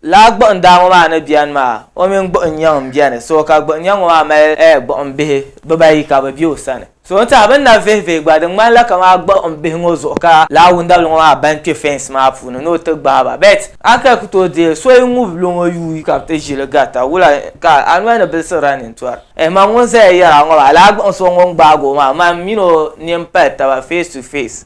Laa gbuɣindaa ŋɔ maa ni beni maa, o mini gbuɣinyɛŋ m-beni, so ka gbuɣinyɛŋ ŋɔ maa mali ɛɛ gbuɣimbihi bibaayi ka bɛ be o sani. So n tɛha bɛ ni na vihivihi gba di ŋmanila kamani gbuɣimbihi ŋɔ zuɣu ka laa wundabili ŋɔ maa ban kpe fɛnsi maa puuni ni o ti gbaai ba bet a ka ku tooi deei so yi ŋubi lo ŋɔ yuui ka bɛ ti ʒi li garita wula ka a noli ni biliɣisirila nintɔri? Ɛɛh man ŋun zaya yɛri a ŋɔ maa, laa gbuɣinsi o ŋun gbaagi o maa, man min o nini pali taba face to face.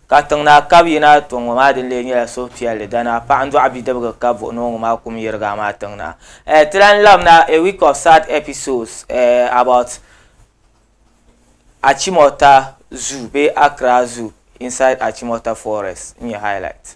Ka tiŋ naa kab yi naa tɔŋ ŋɔ maa din lee nyɛla suhupiɛlli dana paɣa n dɔɣi bidibga ka buɣi ni o ŋɔ maa kum yirigi amaa tiŋ naa eh ti lan lab na a week of sad episodes eh about Achimota zoo bee Accra zoo inside Achimota forest n nyɛ highlights.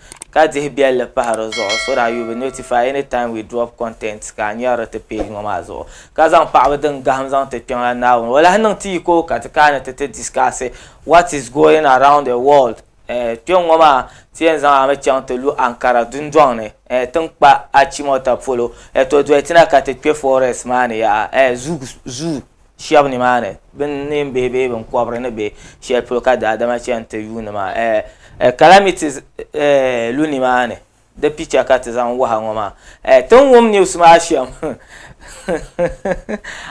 Ka dihi biɛlli pahi di zuɣu so that you be notified anytime we drop content ka a nyari di ti page ŋɔ maa zuɣu. Ka zaŋ paɣaba din gahim zaŋ ti Kpiɔŋlan Naawuni. O lahi niŋ ti yiko ka ti kaani ti ti discuss what is going around the world. Eh, kpiɔŋ ŋɔ maa ti yɛn zaŋ a mi chaŋ ti lu Ankara dundɔŋ ni eh, ti ni kpa Achimota polo eh, to dolitina ka ti kpe forest maa ni yaha eh, Zug, Zoo. shɛba nimaani bɛ neen bihi bee binkɔbiri ni be shɛli polo ka daadama chani ti yuuni maa eh, eh, calamity eh, lu nimaani di picha ka ti zaŋ waha ŋɔ maa eh, ti ni wum news maa shɛm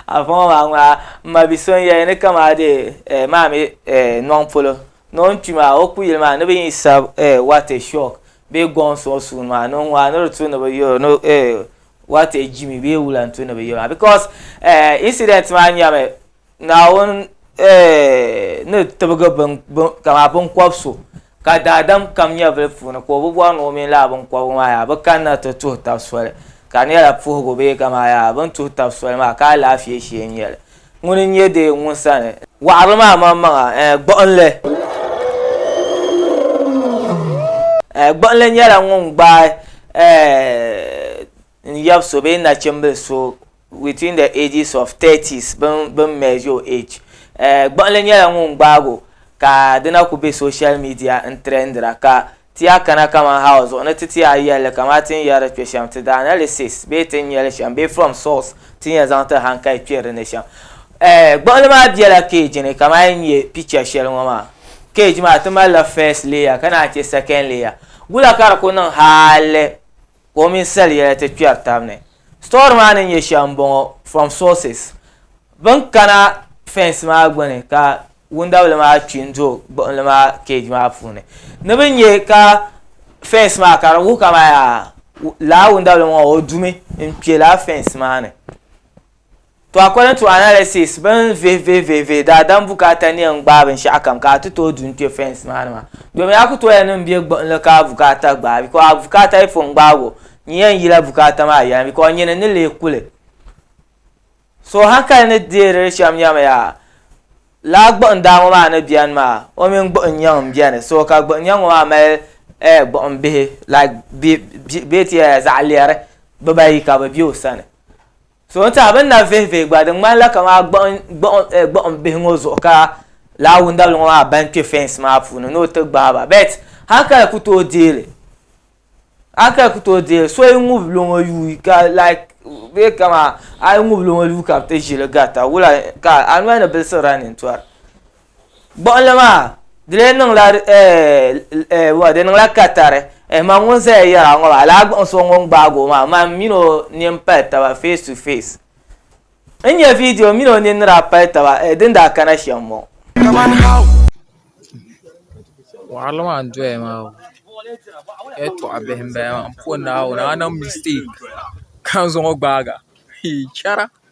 afa ŋɔ maa ŋmaa m ma bi so n yɛli ni kamaa dee eh, maami eh, nɔŋ polo ni o ni kpi maa o kuyili maa ni bɛ yi sab eh, what a shock bee gɔŋ suɣu suuni maa ni ŋɔ a ni di tu ni bi yɔro ni eh, what a jimi bee wula n tu ni bi yɔro maa because eh, incident maa nyɛmi naawuni eh, ni tibigi bin, bin, kama binkɔb so ka daadam kam nyɛvili puuni ka o bi bɔri ni o mini laa binkɔbigu maa yaa bi kanna ti tuhi tab soli ka di nyɛla puhigu bee kama yaa bin tuhi tab soli maa ka alaafee shee n nyɛli Ŋuni n-nyɛ deei ŋun sani. Wɔɣiri maa maŋmaŋa, ɛɛ gbuɣinli. Ɛɛ gbuɣinli nyɛla ŋun gbaai ɛɛ n yab so bee nachimbili so within the ages of thirties bini measure o age. Ɛɛ gbuɣinli nyɛla ŋun gbaag o ka di na ku be social media n-trendira ka Ti a kana kaman Hawa zuɣu ni ti ti a yɛlli kaman ti ni yɛri kpe shɛm, ti the analysis bee ti ni nya li shɛm bee from source ti nya zaŋ ti han ka yi kpɛri di ni shɛm. Eh, gbuɣinli maa bela cage ni kaman yi ni nya picture shɛli ŋɔ maa. Cage maa ti malila first layer ka naan che second layer. Gula ka di ku niŋ hali ka o mini sali yɛla ti kpɛri tab ni. Story maa ni nyɛ shɛm n bɔŋɔ from sources Bin kana fence maa gbuni ka wundabili maa kpi n do gbuɣinli maa cage maa puuni ni bi nyɛ ka fence maa ka di wuhi ka man yaa laa wundabili ŋɔ o dumi n kpɛ laa fence maa ni. To according to analysis bɛ ni vihi vihi vihi vihi daadam bukaata ni yɛn gbaai binshɛɣu kam ka a ti tooi du n-kpe fence maa ni maa domin a ku tooya niŋ bɛ gbuɣinli ka a bukaata gbaai because a bukaata yi pun gbaag o nyin yɛn yila bukaata maa yɛla because nyini ni lee ku li so hankali ni deeri li shɛm nyɛmi yaa lala gbuɣin daa ŋɔ maa ni beni maa o mini gbuɣin nyɛŋ m-beni so ka gbuɣin nyɛŋ ŋɔ maa mali eh, gbuɣin bihi like bɛ ti yɛli zaɣ lɛri bibaayi ka bɛ be o sani So n tiɛha bini na vihi vihi gba di ŋmani la kamaa gbuɣin gbuɣin eh, gbuɣin bihi ŋɔ zuɣu ka laa wundabili ŋɔ maa ban kpɛ fence maa puuni ni o ti gbahi ba bet hankali ku tooi deeli hankali ku tooi deeli so yi ŋubili o ŋɔ yuui ka like bee kamaa a yi ŋubili o ŋɔ yuui ka bi ti ʒili garita wula ka a noli ni bilisi running tori Gbuɣinli maa di lee niŋla di niŋla katari man ŋun zaya yɛra ŋɔ maa laa gbuɣin so ŋun gbaag o maa man min o nini pali taba face to face n nya viidiyo min o nini ni daa pali taba din daa kana shɛm m-bɔŋɔ. Waɣiri maa n doya maa o yɛltɔɣa bihi m bala maa m puhi naawuni a niŋ mistake ka zaŋ o gbaagi a chara.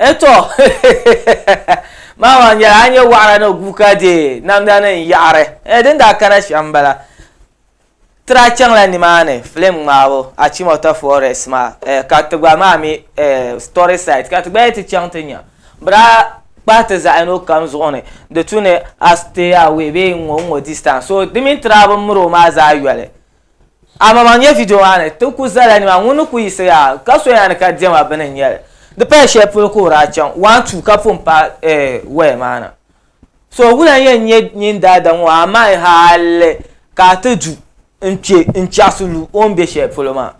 Eto mama nyɛla a nyɛ waɣara ni guuka deei namda ni n yaɣari ee din daa kana shɛm n bala Tira chaŋla nimaani filim ŋmaabu, Achimota Forest maa, eh, ka ti gba maa mi, eh, story site ka ti gba yi ti chaŋ ti nya, bɛ daa kpahi ti zaɣ'yino kam zuɣu ni di tu ni a stay away bee n-ŋɔ n-ŋɔ distance. So di mini tira bɛ ni miri o maa zaa yoli. Amaŋmaŋ nya video maa ni ti kuli zala nimaani ŋun ni kuli yiɣisi yaa ka so yaa ni ka diɛma bini n-nyɛli. Di paya shɛli polo ka o daa chaŋ, one, two ka pun paai, eh, waya maa na. so wula n yɛn nyɛ nyin daada ŋɔ amaa hali ka a ti du n-kpe n-chaɣisi lu o ni be shɛli polo maa.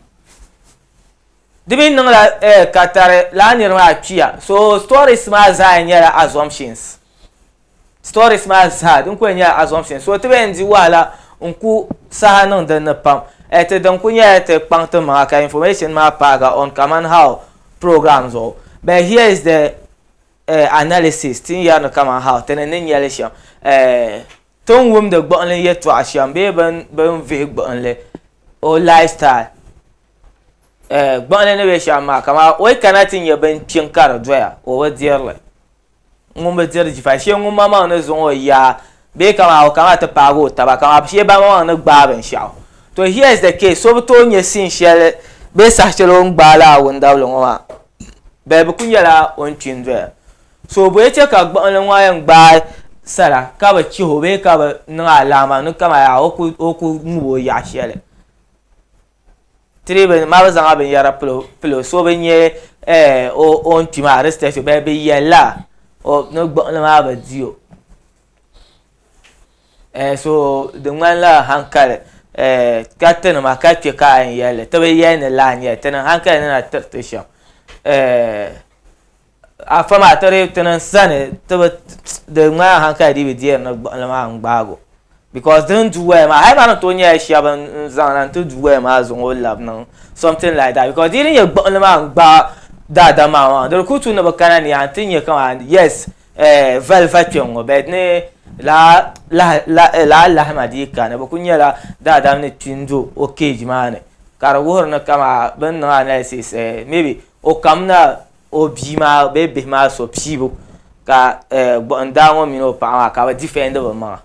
Di mi niŋla eh ka tari lala niri maa kpiya. So stories maa zaa yɛn nyɛla assumptions. Stories maa zaa din kuli yɛn nyɛla assumptions. So ti be yɛn di wahala n-ku saha niŋ din ni pam. Eh ti din kuli nyɛla ti kpaŋ ti maŋa ka information maa paagi on kamani how program zuɣu. But here is the eh, analysis ti ni yɛri ni kaman how ti ni ni nyɛli shɛm eh, ti ni wumdi gbuɣinli yɛtɔɣa shɛm bee bin bin vihi gbuɣinli o lifestyle eh, gbuɣinli ni bɛ shɛm maa kama o yi kana ti nyɛ bin kpiŋ ka di doya o bi dirili ŋun bi diri jifa shee ŋun maŋmaŋ ni zaŋ o yaa Bee ka maa o ka maa ti paagi o taba ka maa bi shee barimaŋmaŋ ni gbaai binshɛɣu. To here is the case, so bi tooi nyɛ scene shɛli bee saha shɛli o ni gbaai lala wundabili ŋɔ maa bɛli bi ku nyɛla o ni kpi n-doya. So bɔ yi chɛ ka gbuɣinli ŋɔ yɛn gbaai sara ka bi chih o bee ka bi niŋ alaama ni ka maa yaa o ku ŋub o yaɣ shɛli. tiri maa bi zaŋla binyɛra pilo so bi nyɛ eh, o ni kpi maa respect bɛ bi yɛlla ni gbuɣinli maa bi di o eh, so di ŋmanila hankali eh, ka ti nima ka kpɛ ka a yɛn yɛlli ti bi yɛli ni laa nyɛli ti niŋ hankali ni na tiriti shɛm eh, Afa maa ti dii ti niŋ sani ti bi di ŋmanila hankali dii bi deeri ni gbuɣinli maa n-gbaag o because di ni du waya maa hali maa ni tooi nyɛla shɛb n-zaŋ na nti du waya maa zaŋ o lab niŋ something like that because di yi ni nyɛ gbuɣinli maa n-gbaag daadam maa maa di di kuli tu ni bi kana ni yaa nti nya kaman yes eh valiva kpe n-ŋɔ but ni lala lahi lahi lala lahima dii ka ni bi kuli nyɛla daadam ni kpi n-do o cage maa ni ka di wuhiri ni kaman bɛ ni niŋ analysis eh maybe o kamina o bia maa bee bihi maa so piibu ka gbuɣin daa ŋɔ mini o paɣa maa ka bi difɛndi bi maŋa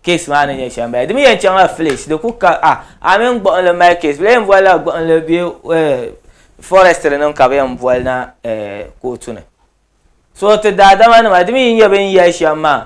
keesi maa ni nyɛ shɛli m-bala di mi yɛn chaŋla fileesi di ku ka a a mini gbuɣinli mali keesi bɛ yɛn bolila gbuɣinli bee fɔrɛstiri nim ka bɛ yɛn boli na kootu ni so ti daadama nima di mi yi nyɛ bɛ ni yɛli shɛm maa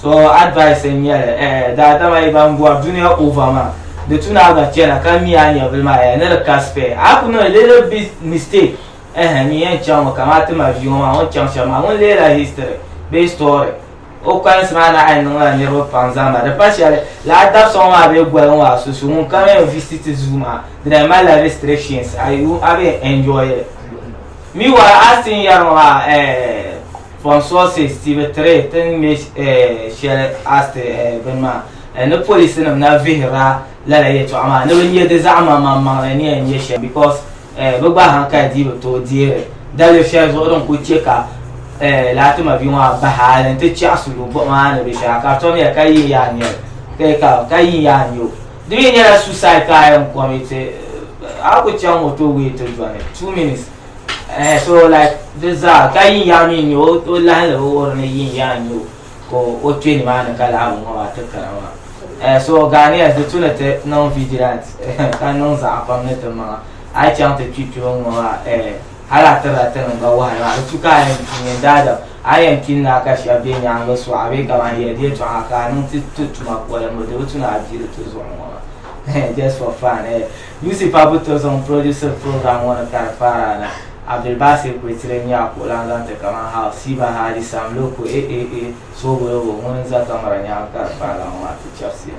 so advice n nyɛli eh, daadama yi ban bɔri duniya ova maa di tu naa gba chɛna ka mi a nyɛvili maa eh, ni di ka spɛ a ku niŋ little bit mistake eh, n yɛn chaŋ mi kamani ti ma viyo maa ŋun chaŋ shɛm maa ŋun leela history bee story o kpalinsi maa naa yɛn niŋla niriba pam zaŋ ba di pa shɛli laa dabisa ŋɔ maa bee goli ŋɔ maa susu ŋun kam yɛn visit zuu maa di na malila restrictions a bɛ enjoy li Mi wa a sin yɛro ha pon sosi Steve Tire tin me shɛli asti bini maa ni polisi nim na vihira lala yɛtɔɣa maa ni bi nyɛ di zaɣ maŋmaŋ maŋli ni yɛn nyɛ shɛm because bi gba hankali dii bi tooi deeri daliri shɛli zuɣu din kuli chɛ ka laati mabi ŋɔ a bahi ali n ti chɛɣisi lu buɣum a ni bɛ shɛli a ka tom ya ka yi yaa nyɛli ka yi yaa nyɛ o Di mi nyɛla suicide parent committee a ku chaŋ o to wee ti dɔni two minutes eh so like di zaa ka yin yaa mi nyɛ o lahi la o ni yin yaa nyɛ o ka o kpe nimaani ka lahi ŋɔ maa ti kana maa eh so Ghanaians di tu ni ti niŋ vigilant ka niŋ zaɣa pam ni ti maŋa a yi chaŋ ti kpi kpɛbo ŋɔ maa eh. Hal a tiri a tinim ba wahayu, a bi tu ka a yɛn tu ŋun daadam. A yɛn tu n-naai ka shɛb be nyaaŋa sɔɣi a bee kaman yɛligi yɛtɔɣa ka a niŋ ti ti tuma polinbu, di bi tu ni a dii di ti zuɣu ŋɔ maa. Just for fun, eh, UC pa buto zuɣu n-produsiri program ŋɔ ni ka di paara na. Abdulbasir Kwetire n-nyɛ a kuɣulan zaŋ ti kaman Hal, Siba Hadi, Sam Loco, eh-eh-eh, Soobolobo, ŋun n-za kamara nyaaŋa ka di paara ŋɔ maa ti chɛbisi ya.